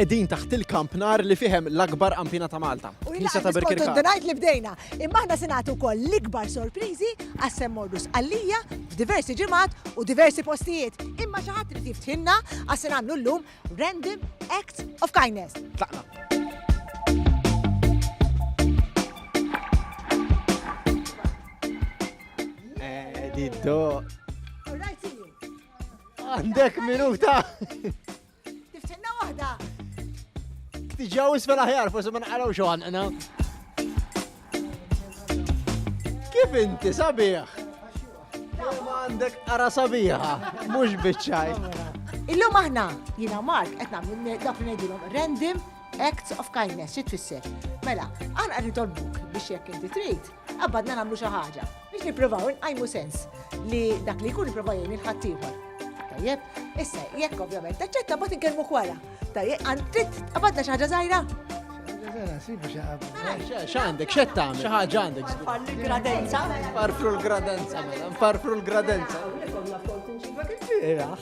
Qegħdin taħt il-kampnar li fihem l-akbar qampina ta' Malta. U jina ta' Birkirkara. Donajt li bdejna, imma aħna se nagħtu wkoll l-ikbar sorpriżi għas semmorrus għalija f'diversi ġimgħat u diversi postijiet. Imma xi ħadd irid jiftħinna għas se nagħmlu llum Random Act of Kindness. Tlaqna. Eh, Diddo. All right, see you. Għandek minuta. Tiftinna waħda. Tiġaw isfel aħjar, forse ma naqraw xo għanqna. Kif inti sabiħ? Għandek ara sabiħa, mux bitċaj. Illum aħna, jina Mark, etna minn dak li ngħidilhom random acts of kindness, xi tfisser. Mela, għan għarri tolbuk biex jekk inti trid, għabadna nagħmlu xi ħaġa. Biex nipprovaw inqajmu sens li dak li jkun ipprova jgħin il-ħaddieħor. Tajjeb, issa jekk ovvjament taċċetta bat inkellmu kwara. Tajjeb, għand trid qabadna xi ħaġa żgħira? X'għandek, x'qed tagħmel? Xi ħaġa għandek. Parfru l-gradenza. Parfru l-gradenza, mela, parfru l-gradenza. Iraħ.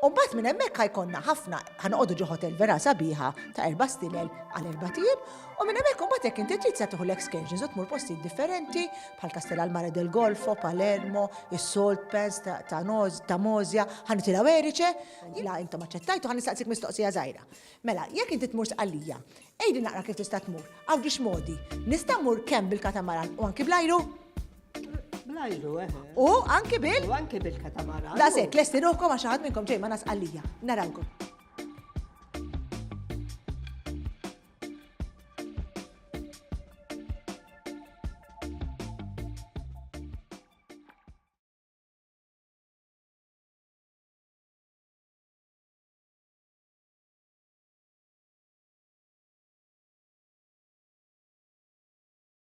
Umbat minn hemmhekk ħajkonna ħafna ħanoqogħdu ġo hotel vera sabiħa ta' erba' stilel għal erba' tim u minn hemmhekk umbat jekk inti trid se tieħu l-excursions u tmur postijiet differenti bħal Kastell għall-Mare del Golfo, Palermo, is-Salt Pans ta' Mosja, ħanitilgħu Erice, la intom aċċettajtu ħan nistaqsik mistoqsija żgħira. Mela, jekk inti tmur Sqallija, ejdi naqra kif tista' tmur, għaw ġiex modi, nista' mmur kemm bil-katamaran u anki bl-ajru? Blajru, eh. U anki bil? U anki bil-katamara. Da sekk, lesti ruħkom għax ħadd minnkom ġej ma nasqallija. Narawkom.